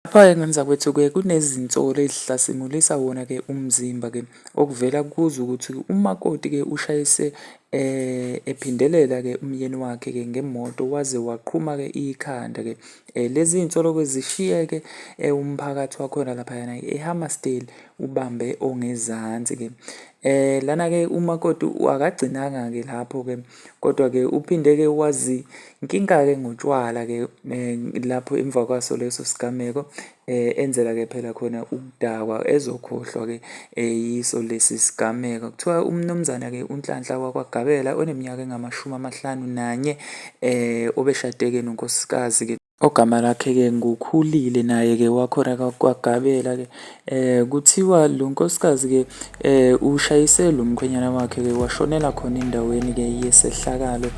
Lapha-ke ngani zakwethu-ke kunezinsolo ezihlasimulisa wona-ke umzimba-ke okuvela kuzo ukuthi umakoti-ke ushayise eh ephindelela-ke umyeni wakhe-ke ngemoto waze waqhuma-ke ikhanda-ke. Eh lezi zinsolo-ke zishiyeke eh, umphakathi wakhona laphayana eHammarsdale ubambe ongezansi-ke. Eh lana ke umakoti akagcinanga ke lapho ke kodwa ke uphinde ke wazi inkinga ke ngotshwala ke eh, lapho emva kwaso leso sigameko eh enzela ke phela khona ukudakwa ezokhohlwa ke eh, yiso lesi sigameko kuthiwa umnumzana ke unhlanhla wakwagabela oneminyaka engamashumi amahlanu nanye eh obeshadeke nonkosikazi ke Ogama lakhe-ke nguKhulile naye-ke wakhona kwaGabela-ke. Kuthiwa lo nkosikazi-ke ushayise lo mkhwenyana wakhe-ke washonela khona endaweni-ke yesehlakalo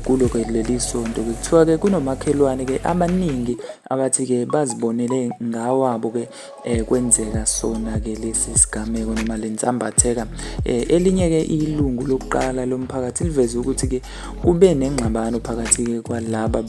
kulo-ke leli sonto-ke. Kuthiwa-ke kunomakhelwane-ke amaningi abathi-ke bazibonele ngawabo-ke eh, kwenzeka sona-ke lesi sigameko noma le nsambatheka eh, elinye-ke ilungu lokuqala lomphakathi liveze ukuthi-ke kube nengxabano phakathi-ke kwalaba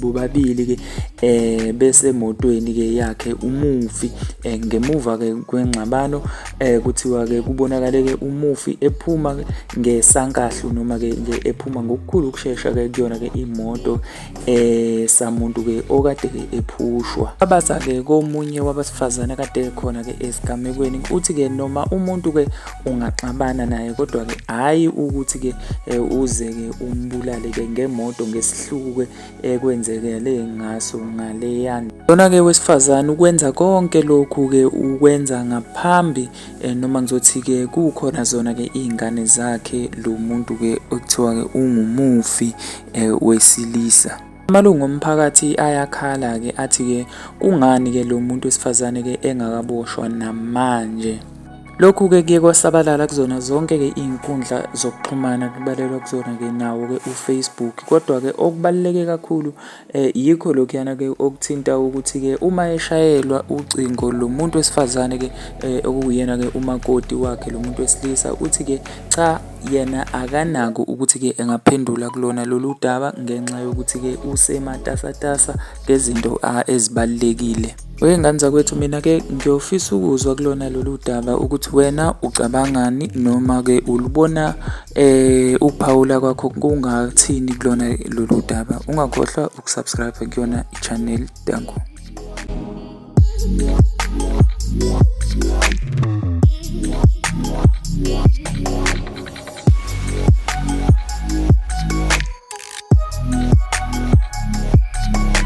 bobabili-ke eh, besemotweni-ke yakhe umufi eh, ngemuva-ke kwengxabano eh, kuthiwa-ke kubonakale-ke umufi ephuma ngesankahlu noma-ke ephuma ngokukhulu ukushesha-ke kuyona-ke imoto eh samuntu ke okade ke ephushwa abaza ke komunye wabasifazana kade khona ke esigamekweni uthi ke noma umuntu ke ungaxabana naye kodwa ke hayi ukuthi ke eh, uze ke umbulale ke ngemoto ngesihluku ke ekwenzekele eh, ngaso ngaleyana lona ke wesifazana ukwenza konke lokhu ke ukwenza ngaphambi Eh, noma ngizothi-ke kukhona zona-ke iy'ngane zakhe lo muntu-ke okuthiwa-ke ungumufi eh, wesilisa amalungu omphakathi ayakhala-ke athi-ke kungani-ke lo muntu wesifazane-ke engakaboshwa namanje Lokhu-ke kuye kwasabalala kuzona zonke-ke iy'nkundla zokuxhumana kubalelwa kuzona-ke nawo-ke uFacebook. Kodwa-ke okubaluleke kakhulu Eh, yikho lokhuyana ke okuthinta ukuthi ke uma eshayelwa ucingo lo muntu wesifazane ke eh, okuyena ke umakoti wakhe lo muntu wesilisa uthi ke cha yena akanako ukuthi ke engaphendula kulona lolu daba ngenxa yokuthi ke usematasatasa ngezinto ezibalulekile Weyengane zakwethu mina ke ngiyofisa ukuzwa kulona lolu daba ukuthi wena ucabangani noma ke ulubona eh ukuphawula kwakho kungathini kulona lolu daba ungakhohlwa ukusubscribe kuyona i-channel danko